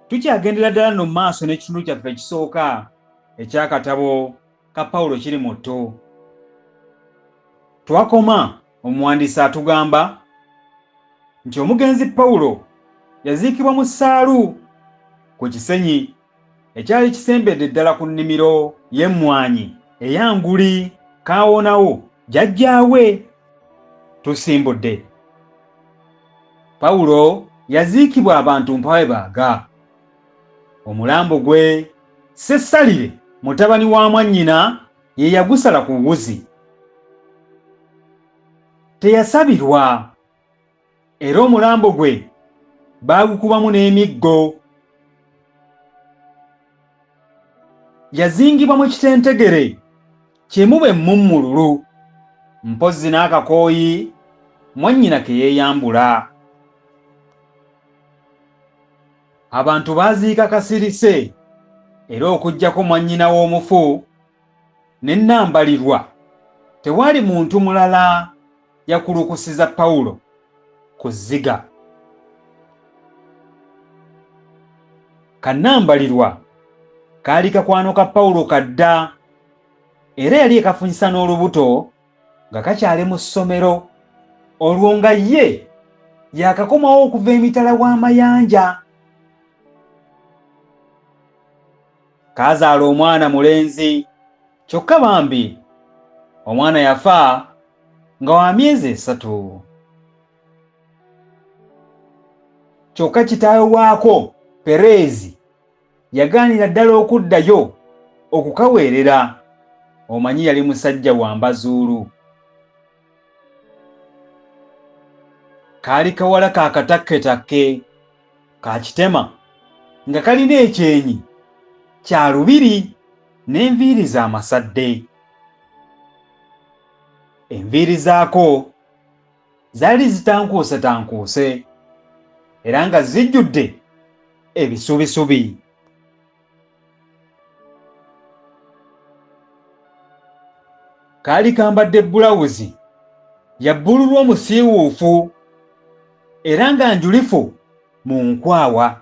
Tukyagendera ddala nno mu maaso n'ekitundu kyaffe ekisooka eky'akatabo ka Pawulo kiri mu ttu. Twakoma omuwandiisi atugamba nti omugenzi Pawulo yaziikibwa mu ssaalu ku kisenyi ekyali kisembedde ddala ku nnimiro y'emmwanyi eya Nguli Kaawonawo jjajjaawe. Tusimbudde. Pawulo yaziikibwa abantu mpawe baaga. Omulambo gwe Sessalire mutabani wa mwannyina ye yagusala ku wuzi. Teyasabirwa era omulambo gwe baagukubamu n'emiggo. Yazingibwa mu kitentegere Kimu bwe mmummululu, mpozzi n'akakooyi mwannyina ke yeeyambula. Abantu baaziika kasirise era okuggyako mwannyina w'omufu ne Nnambalirwa, tewaali muntu mulala yakulukusiza Pawulo ku zziga. Ka Nnambalirwa kaali kakwano ka Pawulo ka dda. era yali ekafunyisa n'olubuto nga kakyali mu ssomero olwo nga ye yakakomawo okuva emitala w'amayanja kaazaala omwana mulenzi kyokka bambi omwana yafa nga wa myezi esatu kyokka kitaawe waako pereezi yagaanira ddala okuddayo okukaweerera omanyi yali musajja wa mbazuulu kaali kawala ka katakketakke ka kitema nga kalina ekyenyi kya lubiri n'enviiri za masadde enviiri zaako zaali zitankuusetankuuse era nga zijjudde ebisubisubi. Kaali kambadde bbulawuzi ya bbululu omusiiwuufu era nga njulifu mu nkwawa.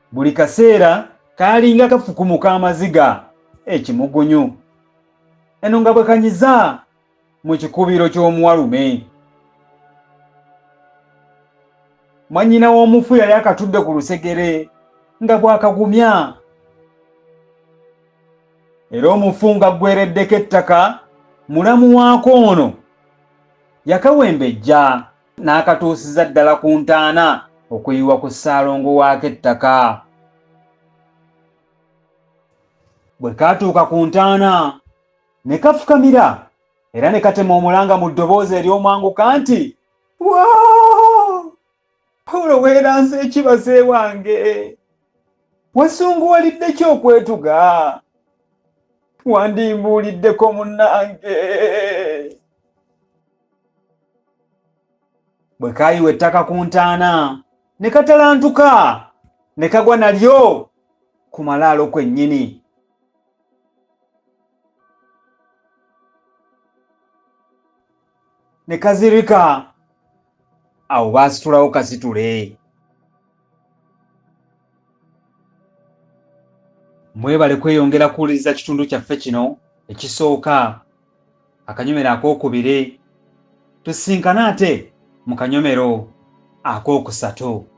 Buli kaseera kaalinga kafukumuka amaziga ekimugunyu. Eno nga bwe kanyiza mu kikubiro ky'omuwalume. Mwannyina w'omufu yali akatudde ku lusegere nga bw'akagumya. Era omufu nga ggwereddeko ettaka mulamu waako ono yakawembejja n'akatuusiza ddala ku ntaana okuyiwa ku ssaalongo waako ettaka bwe kaatuuka ku ntaana ne kafukamira era ne katema omulanga mu ddoboozi ery'omwanguka nti pawulo weeranza ekibaze wange wasunguwalidde ki okwetuga wandimbuuliddeko munnange bwe kaayiwa ettaka ku ntaana ne katalantuka ne kagwa nalyo ku malaalo kwennyini ne kazirika awo baasitulawo kasitule mwebale kweyongera kuwuliriza kitundu kyaffe kino ekisooka akanyomero ak'okubiri tusisinkane ate mu kanyomero ak'okusatu.